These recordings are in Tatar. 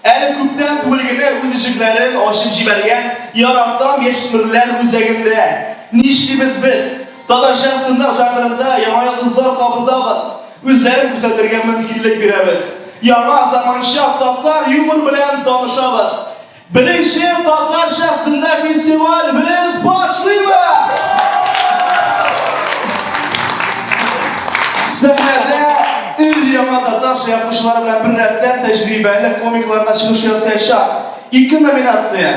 Әле күптән түгел генә үз ишекләрен ачып җибәргән яратам яшьсмерләр үзәгендә. Нишлибез без? Татарча стендап жанрында яңа йолдызлар кабызабыз, үзләрен күрсәтергә мөмкинлек бирәбез. Яңа заманча татар юмор белән танышабыз. Беренче татарча стендап фестиваль без башлыйбыз! Сәхнәдә Өр-яңа татарча язмышлары белән беррәттән тәҗрибәле комиклар да чыгыш ясаячак. Ике номинация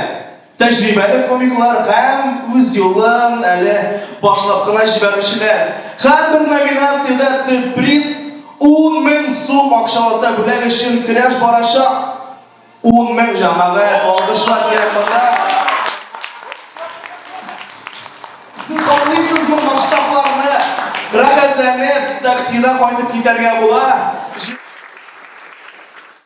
тәҗрибәле комиклар һәм үз юлын әле башлап кына җибәрүчеләр. Һәрбер номинациядә төп приз 10 мең сум акчалата бүләк өчен көрәш барачак. 10 мең җәмәгать, алгышлар кирәк монда. Сез аңлыйсызмы масштабларны? Рәхәтләнеп таксида кайтып китәргә була.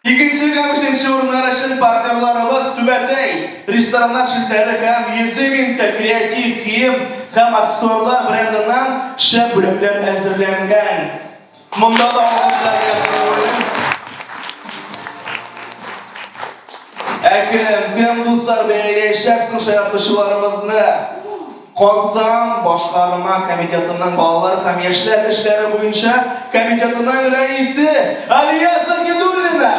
Икенче һәм өченче урыннар өчен партнерларыбыз түбәтәй рестораннар челтәре һәм Езыминка креатив кием һәм аксессуарлар брендыннан шәп бүләкләр әзерләнгән. Монда да алгышларга күңелле. Әкрем, кем дуслар бәяләячәксең шаяртучыларыбызны? Казан башкарма комитетының балалар һәм яшьләр эшләре буенча комитетының рәисе Алия Сахидуллина.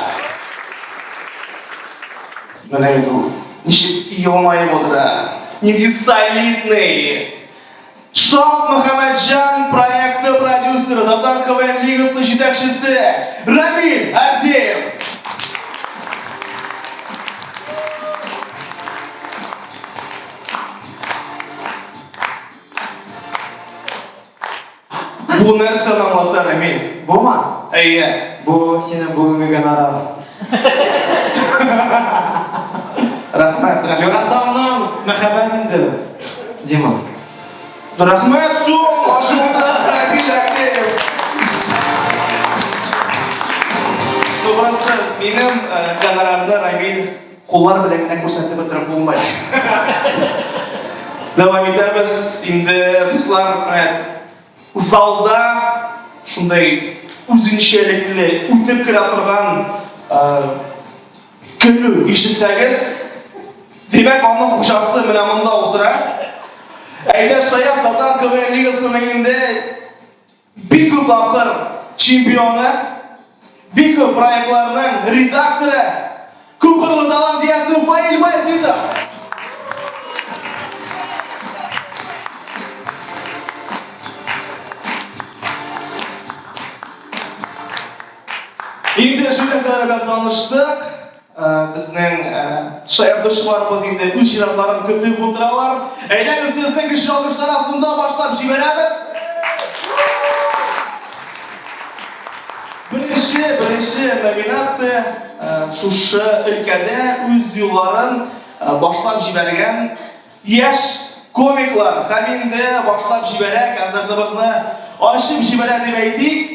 Менә инде ул ничек елмаеп утыра. Нинди солидный. Шат Мөхәммәтҗан проекты продюсеры, Татар КВН лигасы җитәкчесе Рамил Авдеев. Бу нәрсә намлата, Рамил? Бума? Әйе. Бу синең бүгенге гонорар. Рәхмәт, рәхмәт. Яратамның мәхәббәт инде, Дима. Рәхмәт, сум, ашуында, Рәбил Әкеев. Тугрысы, минем э, гонорарны Рамил куллар белән генә күрсәтеп бетереп булмай. Дәвам итәбез инде, дуслар, рәхмәт. Залда шундай үзенчәлекле үтеп керә торган көлү ишетсәгез, димәк, аның хуҗасы менә монда утыра. Әйдә, Шаян татар КВН лигасының инде бик күп тапкыр чемпионы. Бик күп проектларның редакторы, күпкырлы талант иясе Фаил Баязитов. Инде шул нәрсәләр белән таныштык. Безнең шаяртучыларыбыз инде үз чиратларын көтеп утыралар. Әйдәгез сезне көчле алкышлар астында башлап җибәрәбез. Беренче, беренче номинация шушы өлкәдә үз юлларын башлап җибәргән яшь комиклар. Һәм инде башлап җибәрә, концертыбызны ачып җибәрә дип әйтик.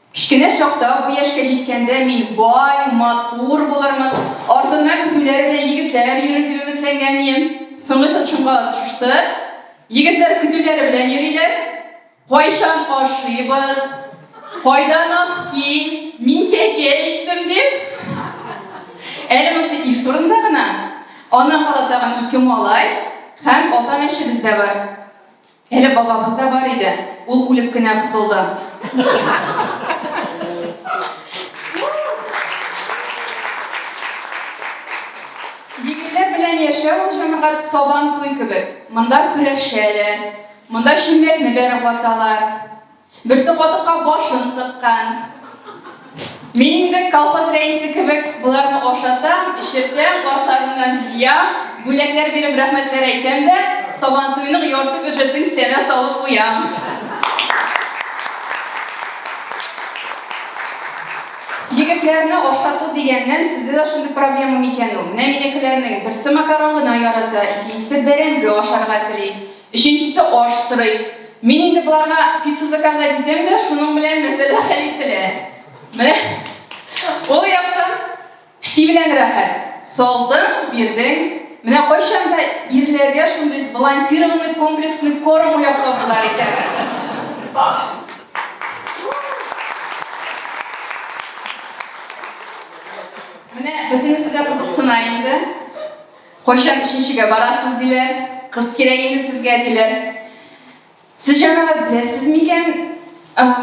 Кечкенә чакта, бу яшькә җиткәндә мин бай, матур булырмын, артымнан көтүләр белән егетләр йөрер дип өметләнгән идем. Соңгы чор шуңа очрашты. Егетләр көтүләре белән йөриләр. Кайчан ашыйбыз, кайда носки, мин кәкә иттем дип. Әле монысы ир турында гына. Аннан кала тагын ике малай һәм ата мәчебез дә бар. Әле бабабыз да бар иде, ул үлеп кенә котылды. Егетләр белән яшәү ул җәмәгать сабан туй кебек. Монда көрәшәләр, монда чүмәкне бәреп ваталар. Берсе катыкка башын тыккан. Мин инде колхоз рәисе кебек боларны ашатам, эчертәм, артларыннан җыям, бүләкләр биреп рәхмәтләр әйтәм дә, сабантуйның ярты бюджетын кесәмә салып куям. Егетләрне ашату дигәннән сездә дә шундый проблема микән ул? Менә минекеләрнең берсе макарон гына ярата, икенчесе бәрәңге ашарга тели. Өченчесе аш сорый. Мин инде боларга пицца заказать итәм дә, шуның белән мәсьәлә хәл ителә. Менә ул яктан песи белән рәхәт. Салдың, бирдең. Менә кайчан да ирләргә шундый сбалансированный комплексный корм уйлап табылар икән. Менә бөтенесе дә кызыксына инде. Кайчан өченчегә барасыз, диләр. Кыз кирәк инде сезгә, диләр. Сез, җәмәгать, беләсез микән,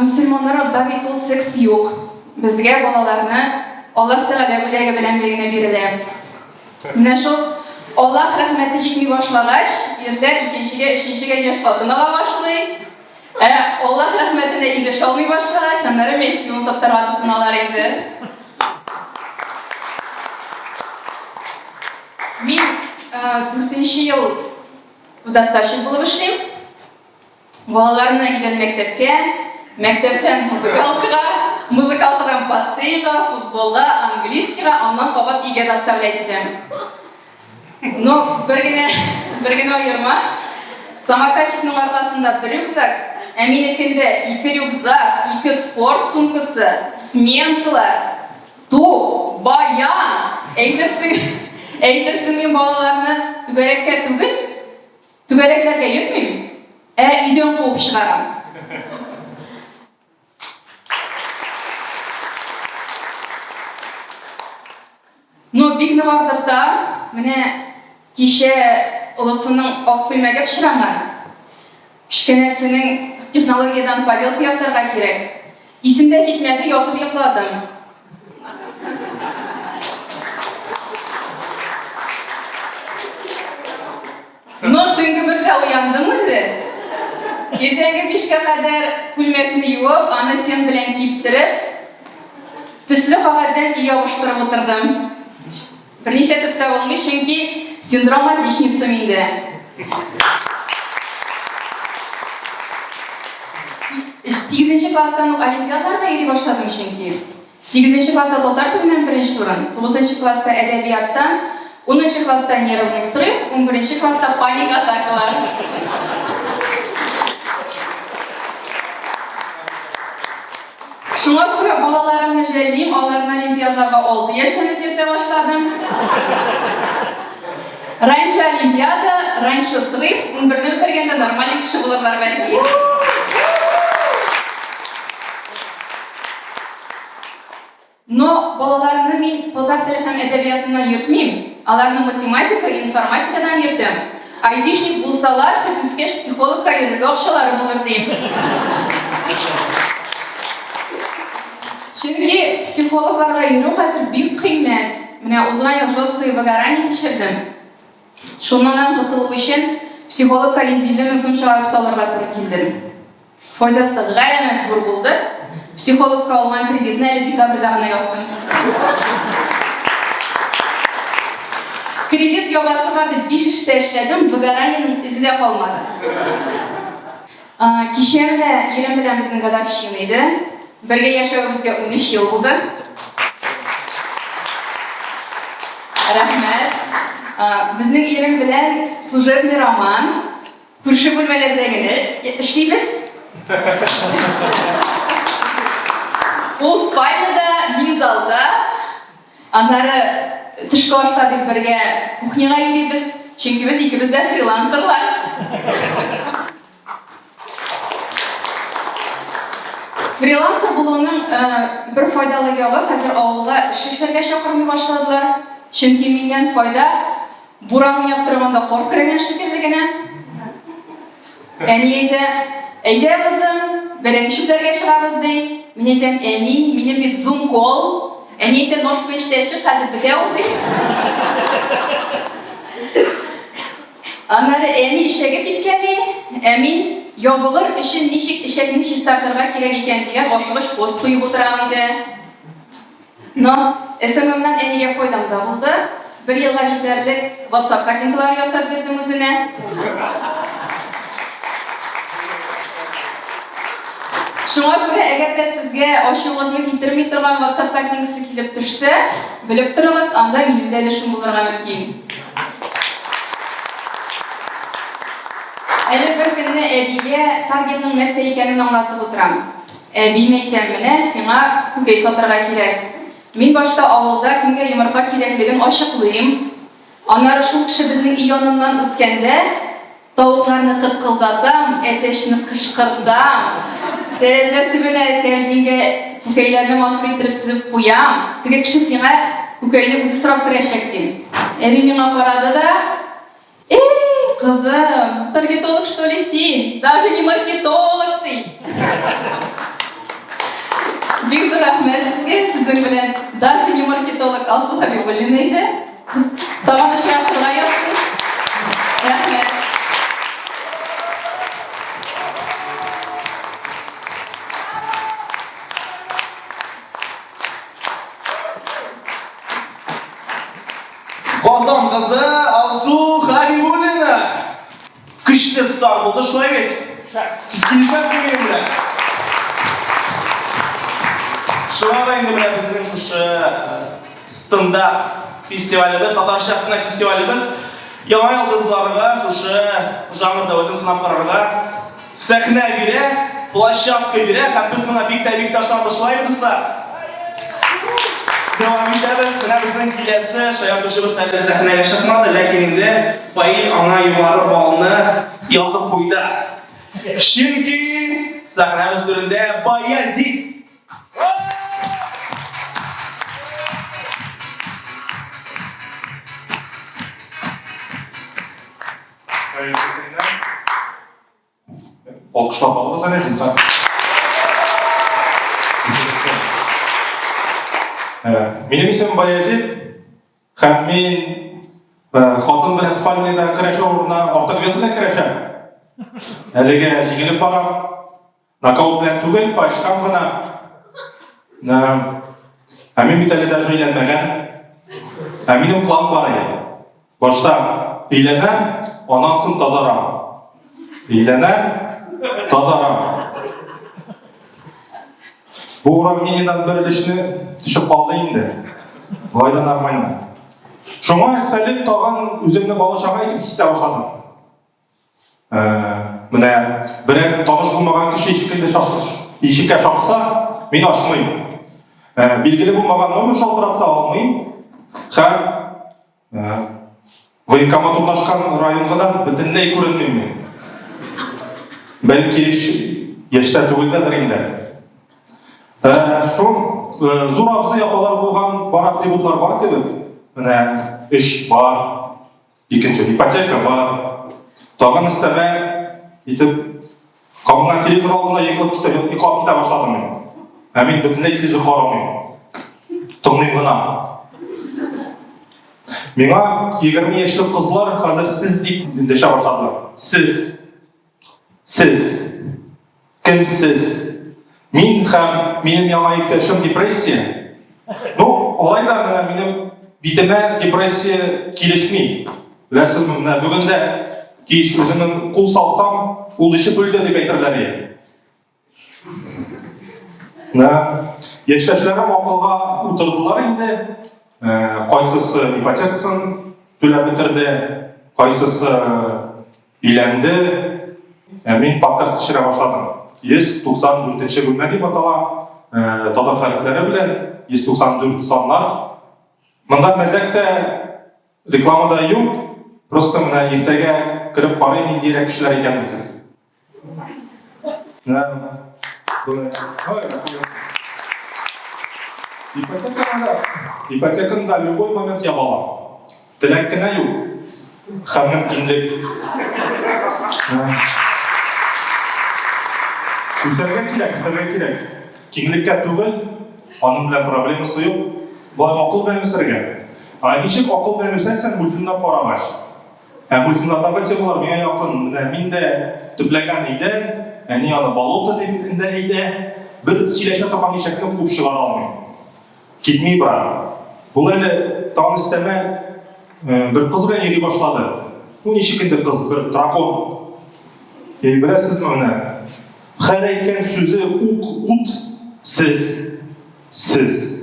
мөселманнарда бит ул секс юк. Безгә балаларны Аллаһ Тәгалә бүләге белән бер генә бирелә. Менә шул Аллаһ рәхмәте җитми башлагач, ирләр икенчегә, өченчегә яшь хатын ала башлый. Ә Аллаһ рәхмәтенә ирешә алмый башлагач, аннары мәчет юлын таптарга тотыналар инде. Мин э, дүртенче ел доставщик булып эшлим. Балаларны өйдән мәктәпкә, мәктәптән музыкалкага, музыкалкадан бассейнга, футболга, английскийга, аннан кабат өйгә доставлять итәм. Ну, бер генә, бер генә аерма. Самокатчикның аркасында бер рюкзак, ә минекендә ике рюкзак, ике спорт сумкасы, сменкалар, ту, баян. Әйтерсең, әйтерсең мин балаларны түгәрәккә түгел, түгәрәкләргә йөрмим, ә өйдән куып чыгарам. Ну, бик нык артыкта, менә кичә олысының ак күлмәге пычранган. Кечкенәсенең технологиядән поделка ясарга кирәк. Исемдә китмәде, ятып йокладым. Но төнге бергә уяндым үзе. Иртәнге бишкә кадәр күлмәкне юып, аны фен белән киптереп, төсле кагазьдән өй ябыштырып утырдым. Берничә төптә булмый, чөнки синдром отличницы миндә. Сигезенче класстан ук олимпиадларга йөри башладым чөнки. Сигезенче класста татар теленнән беренче урын, тугызынчы класста әдәбияттан, унынчы класста нервный срыв, унберенче класста паник атакалар. Шуңа күрә балаларымны жәллим, аларны олимпиадларга алты яшьтән үк йөртә башладым. Раньше олимпиада, раньше срыв, унберне бетергәндә нормальный кеше булырлар бәлки. Но балаларны мин татар теле һәм әдәбиятыннан йөртмим, аларны математика, информатикадан йөртәм. Айтишник булсалар, бит үскәч психологка йөрергә акчалары булыр дим. Чөнки психологларга йөрү хәзер бик кыйммәт. Менә узган ел жесткое выгорание кичердем. Шуннан котылу өчен психологка 150 мең сум чыгарып салырга туры килде. Файдасы гаямәт зур булды. Психологка алган кредитны әле декабрьдә гына яптым. Кредит ябасы бар дип биш эштә эшләдем, выгораниенең эзе дә калмады. Кичә менә ирем белән безнең годовщина иде. Бергә яшәвебезгә 13 ел булды. Рәхмәт. Безнең ирем белән служебный роман. Күрше бүлмәләрдә генә эшлибез. Ул спальнада, мин залда. Аннары төшке ашта дип бергә кухняга йөрибез, чөнки без икебез дә фрилансерлар. Фрилансер булуның э, бер файдалы ягы, хәзер авылга эшче эшләргә чакырмый башладылар, чөнки миннән файда Буран уйнап торганда кар көрәгән шикелле генә. Әни әйтә, әйдә кызым, бәрән чүпләргә чыгабыз ди. Мин әйтәм, әни, минем бит зум кол. Әни әйтә, ножка эчтә чык, хәзер бетә ул ди. Аннары әни ишәге типкәли, ә мин ябыгыр өчен ничек ишәкне чистартырга кирәк икән дигән ашыгыч пост куеп утырам иде. Но сммнан әнигә файдам да булды, бер елга җитәрлек ватсап картинкалары ясап бирдем үзенә. Шуңа күрә, әгәр дә сезгә ачуыгызны китерми торган ватсап картинкасы килеп төшсә, белеп торыгыз, анда минем дә өлешем булырга мөмкин. Әле бер көнне әбигә таргетның нәрсә икәнен аңлатып утырам. Әбием әйтә, менә сиңа күкәй сатырга кирәк. Мин башта авылда кемгә йомырка кирәклеген ачыклыйм. Аннары шул кеше безнең өй яныннан үткәндә, тавыкларны кыткылдатам, әтәчне кычкыртам, тәрәзә төбенә кәрзингә күкәйләрне матур иттереп тезеп куям, теге кеше сиңа күкәйне үзе сорап керәчәк, дим. Әби миңа карады да. Эй, кызым, таргетолог что ли син? Даже не маркетолог ты! Бик зур рәхмәт сезгә, сезнең белән даже не маркетолог Алсу Хәбибуллина иде. Тагын очрашырга язсын. Рәхмәт. Казан кызы Алсу Хәбибуллина. Көчле старт булды, шулай бит? Тискилешәсең минем белән. Шуңа да инде менә безнең шушы стында фестивалебез, татарча стында фестивалебез яңа йолдызларга шушы жанрда үзен сынап карарга Сәхнә бирә, площадка бирә һәм без моңа бик тә бик тә ышанышлыйбыз да. Дәвам итәбез. Менә безнең киләсе шаяртучыбыз әле сәхнәгә чыкмады, ләкин инде Фаил аңа югары балны язып куйды. Чөнки сәхнәбез түрендә Баязит Алкышлап алыгыз әле, зинһар. Минем исем Баязит, һәм мин хатын белән спальняда көрәшә урынына артык весына көрәшәм. Әлегә җигелеп барам. Нокаут белән түгел, пачкам гына. Ә мин бит әле даже өйләнмәгән. Ә минем план бар иде. Башта өйләнәм, аннан соң тазарам. Өйләнәм, тазарам. Бу уравнениедән бер өлешне төшеп калды инде. Болай да нормально. Шуңа өстәлеп тагын үземне бала чага итеп хисләп башладым. Ә, менә берәр таныш булмаган кеше ишекне шакыш. Ишеккә шакса, мин ачмыйм. Ә, билгеле булмаган номер шалтыратса алмыйм. Һәм ә, военкомат урнашкан районга да бөтенләй күренмим. Бәлки яшьтә түгелдәдер инде. Ә, шул ә, зур абзый апалар булган бар атрибутлар бар кебек. Менә эш бар, Икенче ипотека бар. Тагын өстәмә итеп кабына телевизор алдына йоклап китә, йоклап китә башладым мин. Ә мин бөтенләй телевизор карамыйм. Тыңлыйм гына. Миңа 20 яшьлек кызлар хәзер сез дип дәшә башладылар. Сез. Сез. Кем сез? Мин һәм минем яңа иптәшем депрессия. Ну, алай да менә минем битемә депрессия килешми. Беләсезме, менә бүген дә кич үземнең кул салсам, ул ишеп үлде дип әйтерләр иде. Да. Яшьтәшләрем акылга утырдылар инде. Кайсысы ипотекасын түләп бетерде, кайсысы өйләнде. Ә мин подкаст төшерә башладым. 194 бүлмә дип атала, татар хәрефләре белән 194 саннар. Монда мәзәк тә, реклама да юк. Просто менә иртәгә кереп карыйм, ниндирәк кешеләр икәнен сез. Ипотеканы да любой момент яба алам. Теләк кенә юк. Һәм мөмкинлек. Үзләргә кирәк, үзләргә кирәк. Киңлеккә түгел, аның белән проблемасы юк. Болай акыл белән үсәргә. Ә ничек акыл белән үсәсең, мультфильмда карагач? Ә Гульфинатагы темалар миңа якын. Менә мин дә төпләгән өйдә, әни аны болото дип инде әйтә, бер сөйләшә торган ишәкне куып чыгара алмыйм. Китми бара. Ул әле тагын өстәмә бер кыз белән йөри башлады. Бу ничек инде кыз, бер дракон. И беләсезме менә, хәр әйткән сүзе ук ут, сез. Сез.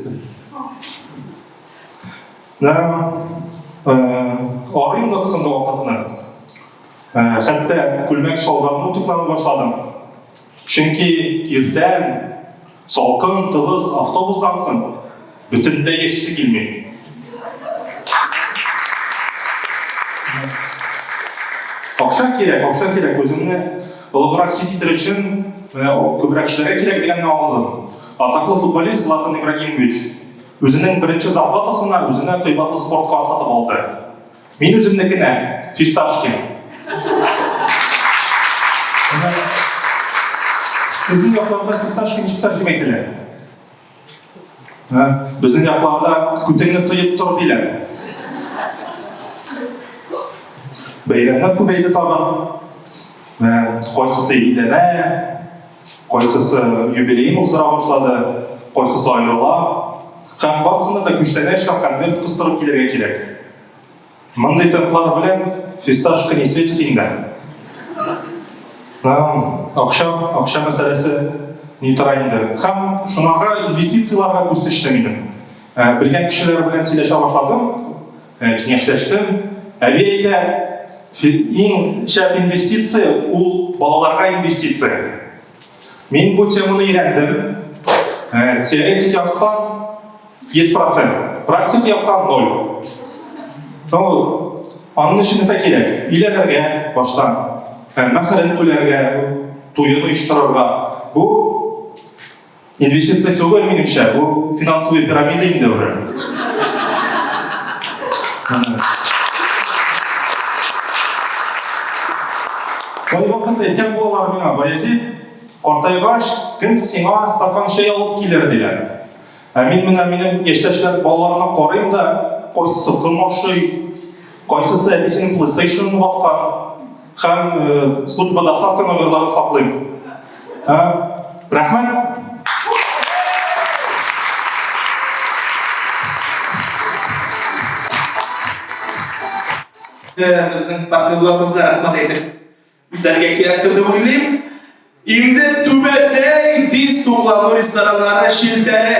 Да, э, арыйм да соңгы вакытны. Э, хәтта күлмәк шалбарны туклана башладым. Чөнки иртән салкын, тыгыз автобустан соң бөтенләй яшисе килми. Акча кирәк, акча кирәк, үзеңне олыграк хис итер өчен, күбрәк эшләргә кирәк дигәнне аңладым. Атаклы футболист Златан Ибрагимович үзенең беренче зарплатасына үзенә кыйбатлы спорт кар сатып алды. Мин үземнекенә фисташкин. Сезнең якларда фисташки ничек тәрҗемә ителә? Безнең якларда күтеңне тоеп тор диләр. Бәйрәмнәр күбәйде тагын. Кайсысы илдәнә, Кайсысы юбилеен уздыра башлады, кайсысы аерыла. Һәм барсында да күчтәнә эшләп конверт кыстырып килергә кирәк. Мондый темплар белән фисташка не светит инде. Акча, акча мәсьәләсе ни тора инде. Һәм шунарга инвестицияләргә күз төште минем. Белгән кешеләр белән сөйләшә башладым. Э, киңәшләштем. Әби әйтә, иң шәп инвестиция ул балаларга инвестиция. Мин бу теманы өйрәндем. Э, теоретик яктан 100%, практик яктан 0. Ну, аның өчен нәрсә кирәк? Өйләнергә баштан, мәхәрен түләргә, туен оештырырга. Бу Инвестиция түгел, минемчә, бу финансовый пирамида инде уже. Кайвакыт әйткән булалар миңа, Баязит, картайгач, кем сиңа стакан чәй алып килер дигән. Ә мин менә минем яшьтәшләр балаларына карыйм да, кайсысы ком ашый, кайсысы әбисенең PlayStation-ын ваткан. Һәм службада хакы номерларын саклыйм. Рәхмәт! Безнең партнерларыбызга рәхмәт әйтеп үтәргә кирәктер дип уйлыйм. Инде түбәтәй тиз туклану рестораннары челтәре.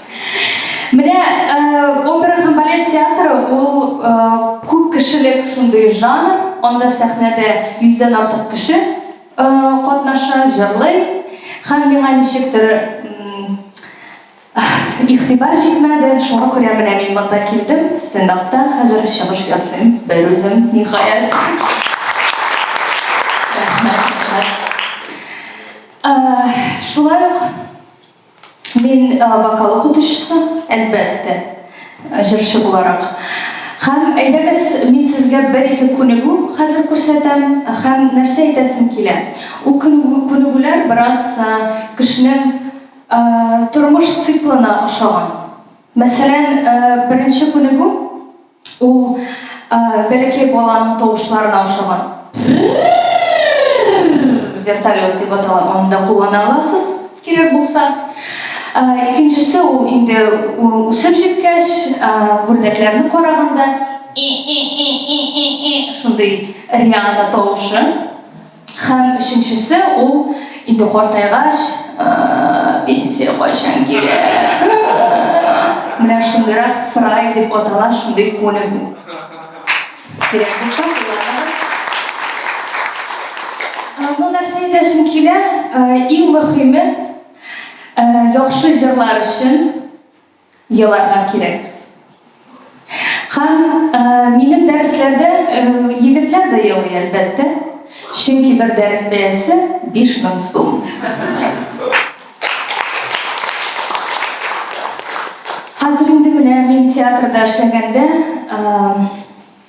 Менә опера һәм балет театры ул күп кешелек шундый жанр, анда сәхнәдә йөздән артык кеше катнаша, җырлый. Һәм миңа ничектер игътибар җитмәде, шуңа күрә менә мин монда килдем, стендапта хәзер чыгыш ясыйм, берүзем, ниһаять. Шулай ук Мин вокал укытучысы, әлбәттә, җырчы буларак. Һәм әйдәгез, мин сезгә бер-ике күнегү хәзер күрсәтәм һәм нәрсә әйтәсем килә, ул күнегүләр бераз кешенең тормыш циклына ошаган. Мәсәлән, беренче күнегү. Ул бәләкәй баланың тавышларына ошаган. Вертолет дип атала, аны да куллана аласыз, кирәк булса. Икенчесе ул инде үсеп җиткәч, бүлдәкләрне караганда шундый Риана тавышы. Һәм өченчесе ул инде картайгач, пенсия кайчан килә? Менә шундыйрак фрай дип атала шундый күнегү. Кирәк булса, Ну, нәрсә әйтәсем килә, иң мөһиме, яхшы җырлар өчен еларга кирәк. Һәм минем дәресләрдә егетләр дә елый, әлбәттә, чөнки бер дәрес бәясе 5000 сум. Хәзер инде менә мин театрда эшләгәндә,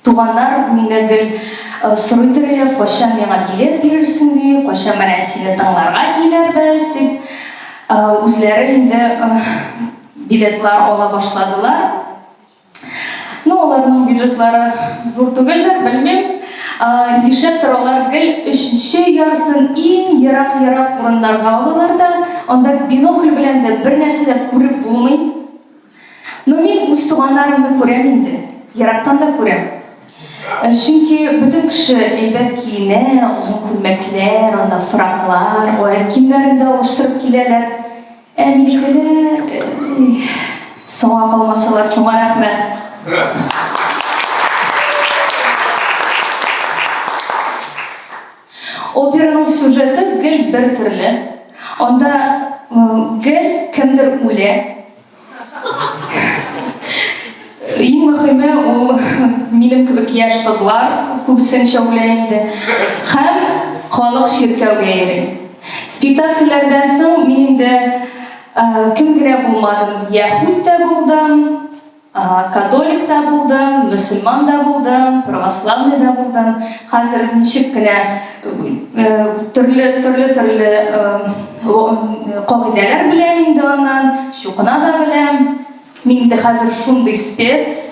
Туганнар мине гел сорый торые, кайчан миңа билет бирерсең ди, кайчан менә сине тыңларга килербез дип. Үзләре инде билетлар ала башладылар. Ну, аларның бюджетлары зур түгелдер, белмим. Нишләптер алар гел өченче ярсын иң ерак-ерак урыннарга алалар да, анда бинокль белән дә бернәрсә дә күреп булмый. Но мин үз туганнарымны күрәм инде, ерактан да күрәм. Э, чөнки бөтен кеше әйбәт киенә, озын күлмәкләр, анда фраклар, аяк киемнәрен дә алыштырып киләләр. Ә минекеләр э, соңа калмасалар, шуңа рәхмәт. Операның сюжеты гел бер төрле. Анда гел кемдер үлә. Иң мөхиме ул минем кебек яшь кызлар күбесенчә үлә инде. Хәм халык чиркәүгә йөри. Спектакльләрдән соң мин инде кем генә булмадым, яһүд тә булдым, Католик та булдым, мөселман да булдым, православный да булдым. Хәзер ничек кенә төрле төрле төрле кагыйдәләр белән инде аннан, чукына да беләм. Мин инде хәзер шундый спец.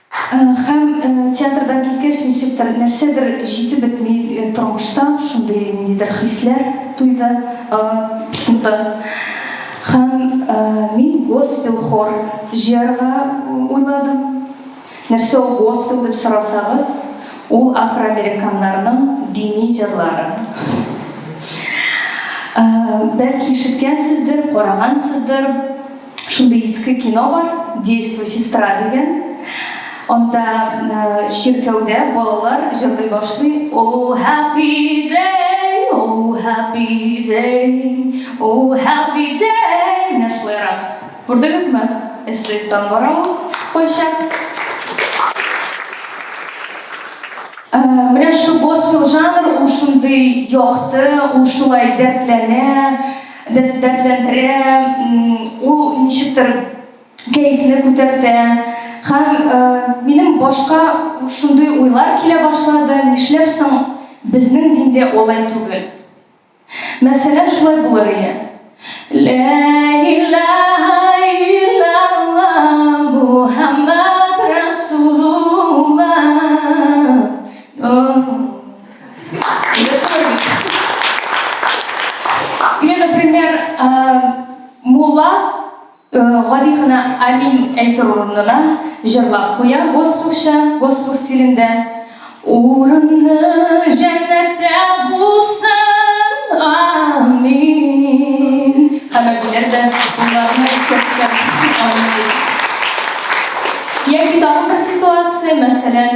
Һәм театрдан киткәч, ничектер, нәрсәдер җитеп бетми тормышта, шундый ниндидер хисләр туйды, тудо. Һәм мин госпел хор җыярга уйладым. Нәрсә ул госпел дип сорасагыз, ул афроамериканнарның дини җырлары. Бәлки ишеткәнсездер, карагансыздыр. Шундый иске кино бар, Действуй, сестра дигән. Анда чиркәүдә балалар җырлый башлый. Oh happy day, oh happy day, oh happy day. Менә шулайрак. Күрдегезме? Эслестан бара ул кайчак. Менә шул госпел жанр, ул шундый якты, ул шулай дәртләнә. дәртләндерә, ул ничектер кәефне күтәртә. Һәм э, минем башка шундый уйлар килә башлады, нишләп соң безнең диндә алай түгел? Мәсәлән, шулай булыр иде. Лә илаһа иллаллаһ Мухаммад Расулуллаһ. Или, например, мулла гади гына амин әйтер урынына җырлап куя госпелча, госпел стилендә. Урынны җәннәттә булсын, амин. Хәмәтләр дә уларны искәрткән. Яки тагын бер ситуация, мәсәлән,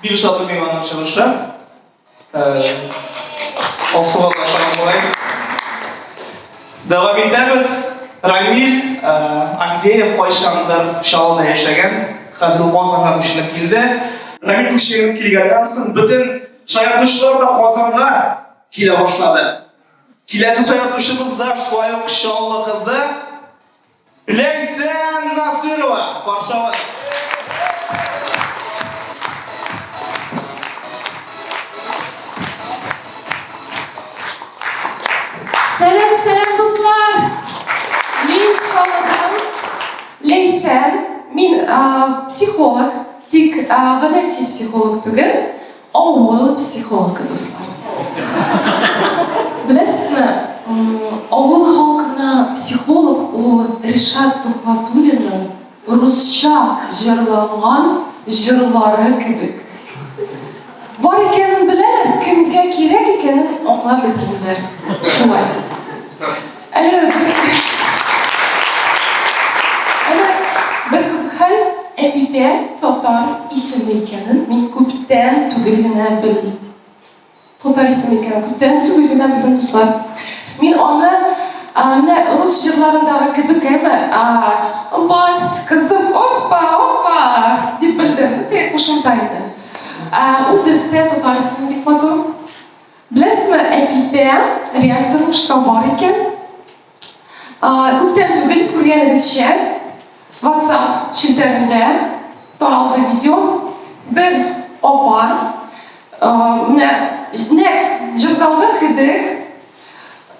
Бирү сату мейманның чыгышы. Асуга ташлана болай. Дәвам итәбез. Рамил Агдеев кайчандыр Чаллыда яшәгән, хәзер Казанга күченеп килде. Рамил күченеп килгәннән соң бөтен шаяртучылар да Казанга килә башлады. Киләсе шаяртучыбыз да шулай ук Чаллы кызы Ләйсән Насырова, каршылайсыз. Сәлам, сәлам дуслар. Мин Шалдан Ләйсән. Мин психолог, тик гадәти психолог түгел. Авыл психологы дуслар. Беләсезме, авыл халкына психолог ул Ришат Тухватуллинның русча җырланган җырлары кебек. Бар икәнен беләләр, кемгә кирәк икәнен аңлап бетермиләр. Шулай. Әле Әле бер кызык хәл, Әпипә татар исеме икәнен мин күптән түгел генә белдем. Татар исеме икәнен күптән түгел генә белдем, дуслар. Мин аны а, менә рус җырларындагы кебек әмма а, бас, кызым, оппа, оппа дип белдем. Бу теге кушымта иде. А, Ул дөрестә татар исеме бик матур. Беләсезме, Әпипә, реаль тормышта бар икән. Күптән түгел күргәнегезчә, WhatsApp челтәрендә таралды видео. Бер апа, менә нәкъ җырдагы кебек,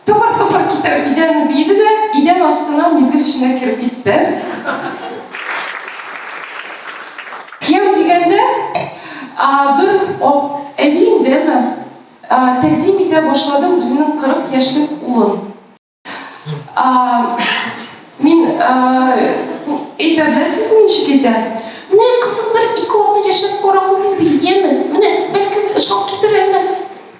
Тупыр-тупыр китереп идәнне биеде дә, идән астына мизгел эченә кереп китте. Кияү дигәндә, бер әби индеме, тәкъдим итә башлады үзенең 40 яшьлек улын. Мин әйтә беләсез ничек әйтә? Менә кызым бер ике атны яшәп кара кызым диеме? Менә бәлкем ошап китерермен.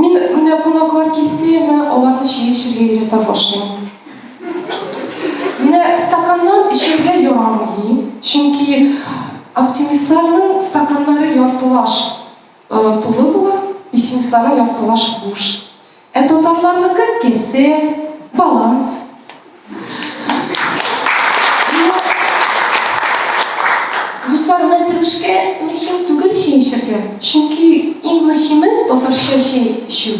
Мин менә кунаклар килсә, мә аларны чәй эчәргә өйрәтә башлыйм. Менә стаканнан эчәргә ярамый, чөнки оптимистларның стаканнары яртылаш тулы була, пессимистларның яртылаш буш. Ә татарларныкы кесе, баланс. Дуслар, мәтрүшкә мөһим түгел чәй эчәргә, чөнки иң мөһиме татарча чәй эчү.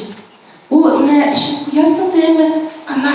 Ул менә эчеп куясың да әмма, ана,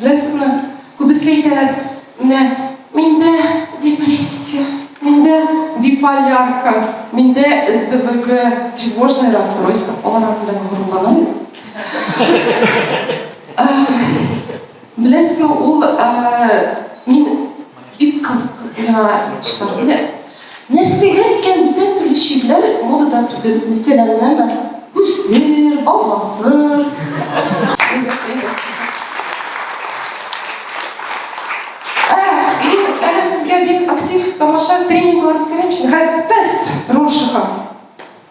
Беләсезме, күбесе әйтәләр, менә миндә депрессия, миндә биполярка, миндә СДВГ, тревожное расстройство, алар аның белән горурлана Беләсезме, ул мин бик кызык, миңа Нәрсәгә икән бүтән төрле чирләр модада түгел, мәсәләннәме, Бүсер, Баубасыр. Ә, мин әле сезгә бик актив тамаша тренинглар үткәрәм өчен, хәл, тест роль шыга.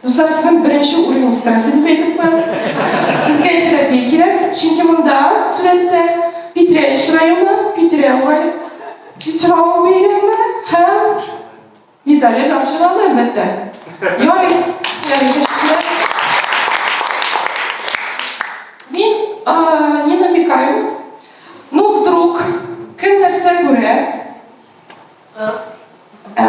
Дуслар, сезнең беренче уренгыз стресс дип әйтеп куям. Сезгә терапия кирәк, чөнки монда сурәттә Питрәч районы, Питрә урай, Питрау бәйрәме һәм Виталий Гамчылан, әлбәттә. Ярый, Мин не намекаю, но вдруг кем нәрсә күрә? Кыз. Ә,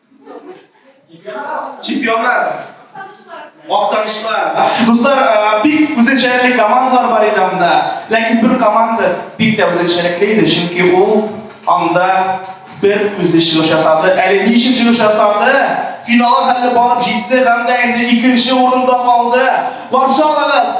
Чемпионлар. Мактанышлар. Дуслар, э, бик үзенчәлекле командалар бар иде анда. Ләкин бер команда бик тә үзенчәлекле иде, чөнки ул анда бер үзе чыгыш ясады. Әле ничек чыгыш ясады? Финалга хәтле барып җитте һәм дә инде икенче урында калды. Варшавагыз!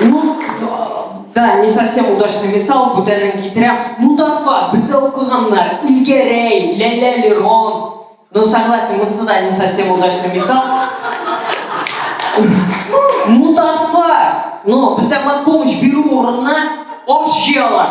Ну, да, не совсем удачный мисал, бүтәнен китерәм. Ну, татфа, бездә укыганнар, Илгәрәй, Ләлә Лерон. Ну, согласен, вот сюда не совсем удачный мисал. Ну, татфа, но ну, бездә матпомощь бирү урынына аш җыялар.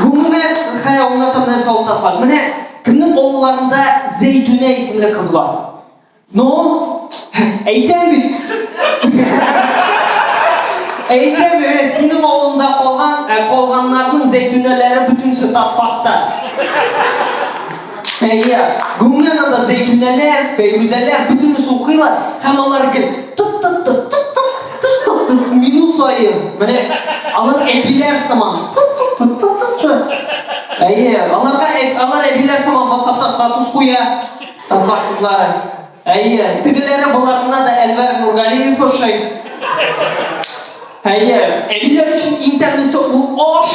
Гомумән, Хәя улына там нәрсә аңлаткан. Менә кемнең олыларында Зәйтүнә исемле кыз бар. Ну, әйтәм бит. Әйтәм, менә синең авылында калган, ә, калганнарның зәйтүнәләре бөтенесе татфакта. Фәния, гомумән анда Зәйтүнәләр, Фәйрүзәләр бөтенесе укыйлар һәм алар гел тып-тып-тып, тып-тып, тып-тып-тып, минут саен, менә алар әбиләр сыман, тып-тып-тып, тып-тып-тып. Әйе, аларга алар әбиләр сыман WhatsApp-та статус куя, татар кызлары. Әйе, тегеләре боларына да Әнвәр Нургалиев ошый. Әйе, әбиләр өчен иң тәмлесе ул аш.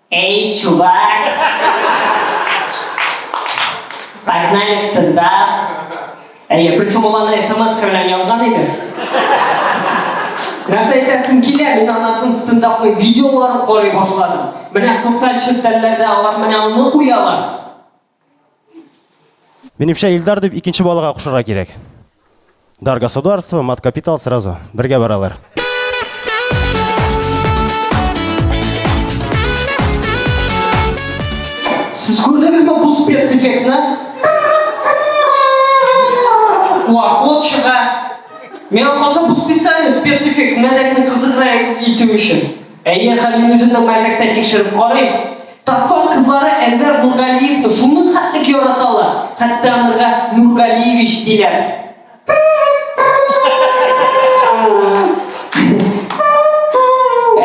Эй, чувак! Погнали в стендап! Әйе, причем ул аны смс белән язган иде. Нәрсә әйтәсем килә, мин анасын стендапный видеоларын карый башладым. Менә социаль челтәрләрдә алар менә аны куялар. Минемчә, Илдар дип икенче балага кушырга кирәк. Дар государство, мат капитал сразу. Бергә баралар. Сез күрдегезме бу спецэффектны? Куакот чыга. Миңа калса, бу специальный спецэффект, мәзәкне кызыграк итү өчен. Әйе, хәзер мин үзем дә мәзәктә тикшереп карыйм. Татфак кызлары Әнвәр Нургалиевны шуның хәтлек яраталар, хәтта анырга Нургалиевич диләр.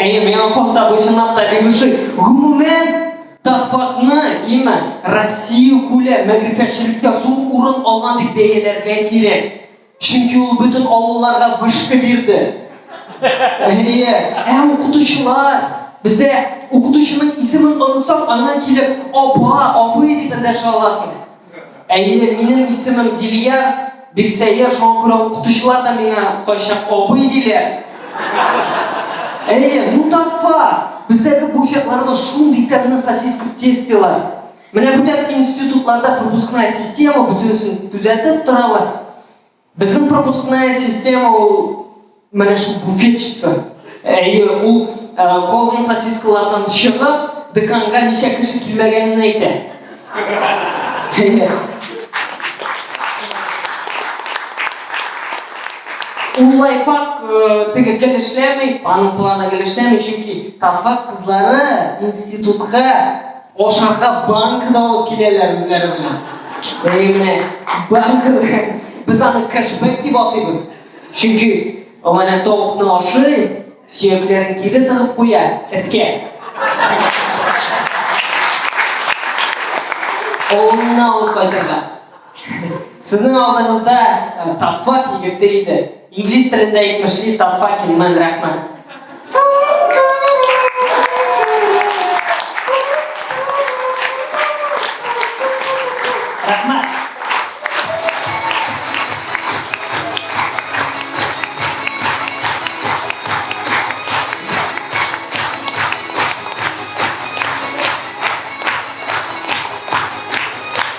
Әйе, миңа калса бу чынлап та бик ошый. Гомумән, Татфакны, имма Россия күләм мәгърифәтчелеккә зур урын алган дип бәяләргә кирәк. Чөнки ул бөтен авылларга вышка бирде. Әйе, ә укытучылар, бездә укытучының исемен онытсаң, аңа килеп, апа, абый дип эндәшә аласың. Әйе, минем исемем Дилия, бик сәер, шуңа күрә укытучылар да миңа кайчак абый диләр. Әйе, ну так факт. Бездәге буфетларда шундый тәмле сосиска в тестелар. Менә бүтән институтларда пропускная система бүтенсен күзәтеп торалар. Безнең пропускная система ул менә шул буфетчица. Әйе, ул калган сосискалардан чыгып, деканга ничә кеше килмәгәнен әйтә. Ул лайфак теге гел эшләми, аның планы гел эшләми, чөнки Тафак кызлары институтка Ашарга банка да алып киләләр үзләре белән. Әйе менә банка без аны кэшбэк дип атыйбыз. Чөнки менә тавыкны ашый, сөякләрен кире тыгып куя эткә. Авылына алып кайтырга. Сезнең алдыгызда Татфак егете иде. Инглиз телендә әйтмешли Татфак имман рәхмәт.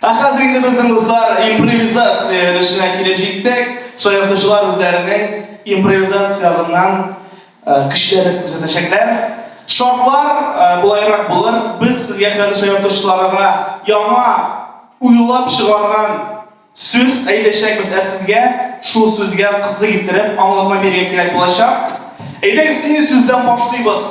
Ә хәзер инде безнең дуслар импровизация өлешенә килеп җиттек. Шаяртучылар үзләренең импровизацияләреннән көчләрен күрсәтәчәкләр. Шартлар болайрак булыр. Без сезгә хәзер шаяртучыларга яңа уйлап чыгарган сүз әйтәчәкбез, ә сезгә шул сүзгә кызык иттереп аңлатма бирергә кирәк булачак. Әйдәгез, нинди сүздән башлыйбыз?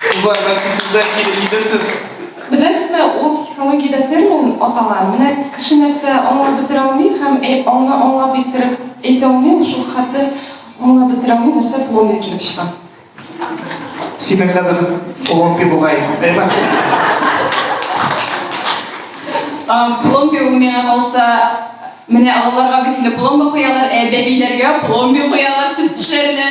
Кызлар, бәлки сез дә килеп җитәрсез? Беләсезме, ул психологиядә термин атала. Менә кеше нәрсә аңлап бетерә алмый һәм аңа аңлап иттереп әйтә алмый, ул шул хәтле аңлап бетерә алмый, нәрсә булуына килеп чыга. Синең хәзер пломби бугай, әйме? Пломби ул миңа калса, менә аларга бит инде пломба куялар, ә бәбиләргә пломби куялар сөт тешләренә.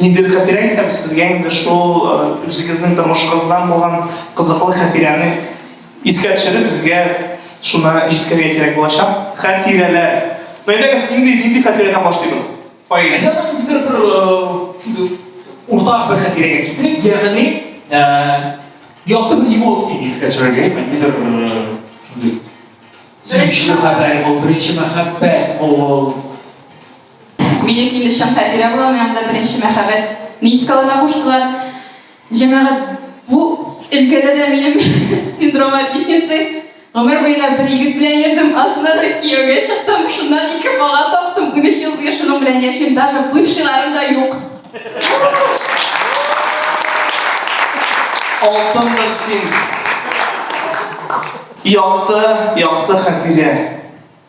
Нидер хәтирә әйтәм сезгә инде шул үзегезнең тормышыгыздан булган кызыклы хәтирәне искә төшереп безгә шуны җиткерергә кирәк булачак. Хәтирәләр. Әйдәгез, нинди нинди хәтирәдән башлыйбыз? Фаилә. Әйдә нидер бер шундый уртак бер хәтирәгә китерик, ягъни якты бер эмоцияне искә төшерергә, нидер шундый сөенечле хәбәр ул, беренче мәхәббәт ул, Минем Инешем Хәтирә була, моның да беренче мәхәббәт Нискаларга куштылар. Җәмәгать, бу өлкәдә дә минем синдром отличницы. Гомер буена бер егет белән йөрдем, астына да кияүгә чыктым, шуннан ике бала таптым, унөч ел буе шуның белән яшим, даже бывшийларым да юк. Алтындыр син! Якты, якты Хәтирә!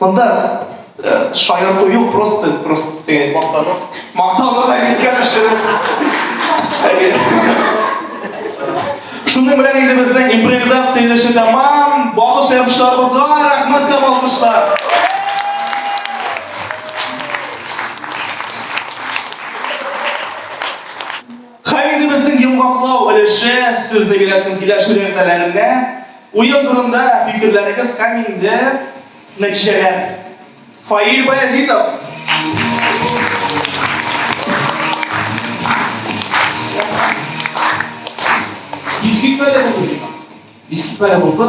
Монда э, шаярту юк, просто, просто теге мактану. Мактауны да искә төшереп. Шуның белән инде безнең импровизация өлеше тәмам. Балык шәрбишларыбызга рәхмәт һәм алкышлар. Һәм инде безнең йомгаклау өлеше, сүзне гөлясен киләшү рәмзәләренә, уен турында фикерләрегез һәм инде нәтиҗәләр. Фаил Баязитов. Искитмәле булды. Искитмәле булды.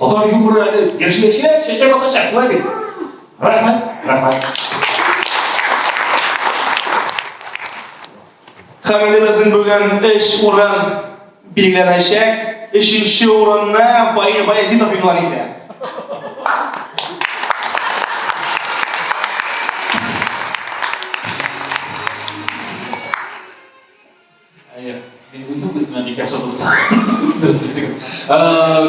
Татар юморы әле яшелчә, чәчәк ата чәчәк бит. Рәхмәт, рәхмәт. Хәмидебезнең бүген эш урын билгеләнәчәк. Өченче урынны Фаил Баязитов игълан итә. Әйе. Мин үзем үземә бик яхшы дус. Дөрес ишетегез.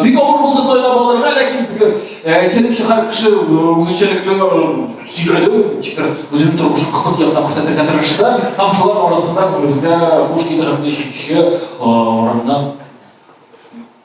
Бик авыр булды сайлап алырга, ләкин килеп чыгар кеше үзенчәлекле сөйләде, ничектер үзенең тормышын кызык яктан күрсәтергә тырышты. Һәм шулар арасында күңелебезгә хуш килгән өченче урынны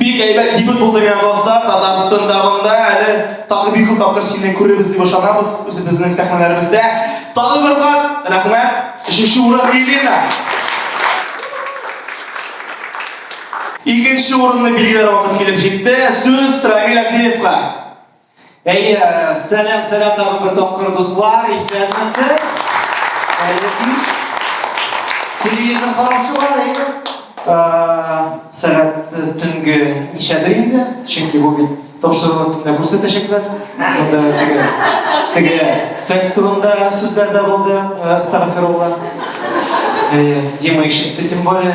Бик әйбәт дебют булды миңа калса, Татарстан давында әле тагы бик күп тапкыр сине күрербез дип ышанабыз үзебезнең сәхнәләребездә. Тагы бер кат рәхмәт. Өченче урын Елена. Икенче урынны билгеләр вакыт килеп җитте. Сүз Рамил Абдиевка. Әйе, сәлам, сәлам тагын бер тапкыр, дуслар, исәнмесез. Әле кич. Телевизор караучылар, әйе. Сәгать төнге ничәдер инде, чөнки бу бит тапшыруны төнлә күрсәтәчәкләр. Монда теге теге секс турында сүзләр дә булды, Астафирулла. Дима ишетте, тем более.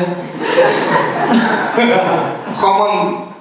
Хаман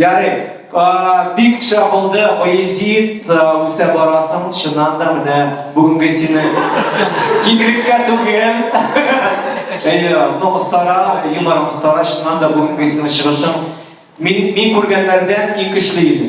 Ярый, бик шәп булды, поэзият үсә барасың, чыннан да менә бүгенге сине кибриккә түгел. Әйе, ну остара, юмор остара, чыннан да бүгенге сине чыгышың. Мин, мин күргәннәрдән иң көчле иде.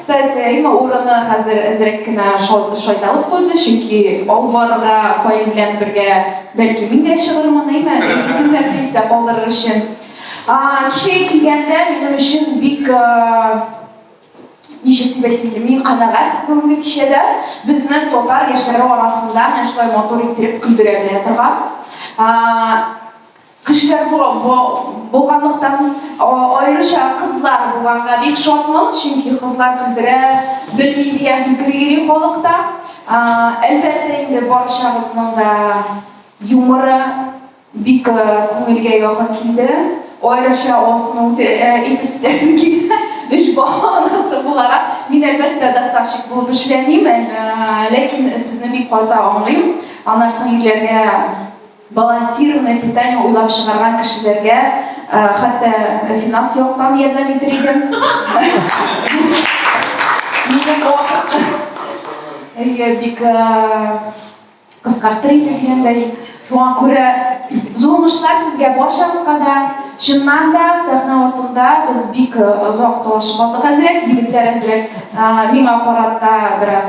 Кстати, Рима урыны хәзер әзрәк кенә шайталып куйды, чөнки алып барырга Фаил белән бергә бәлки мин дә чыгырмын, әйме, икесен дә бер истә калдырыр өчен. Кичәгә килгәндә минем өчен бик ничек дип әйтим инде, мин канәгать бүгенге кичәдә безнең татар яшьләре арасында менә шулай матур иттереп көлдерә белә торган Кешеләр булганлыктан, аеруча кызлар булганга бик шатмын, чөнки кызлар көлдерә белми дигән фикер йөри халыкта. Әлбәттә инде барчабызның да юморы бик күңелгә якын килде. Аеруча Алсуны үтә итеп үтәсем килә. Өч бала анасы буларак, мин әлбәттә доставщик булып эшләмим, ләкин сезне бик каты аңлыйм. Аннары соң ирләргә Балансированное питание уйлап чыгарган кешеләргә хәтта финанс яктан ярдәм итер идем. Минем вакыт. Әйе, бик кыскартыр идем дигән дә юк. Шуңа күрә зур уңышлар сезгә барчагызга да. Чыннан да сәхнә артында без бик озак талашып алдык әзрәк, егетләр әзрәк миңа карата бераз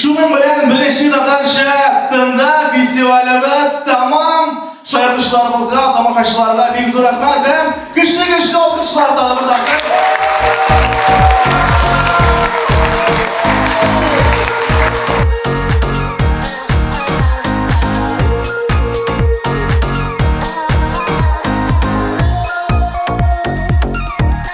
Шуның белән беренче татарча стендап фестивалебез тәмам. Шаяртучыларыбызга, тамашачыларга бик зур рәхмәт һәм көчле көчле алкышлар тагы бер тапкыр.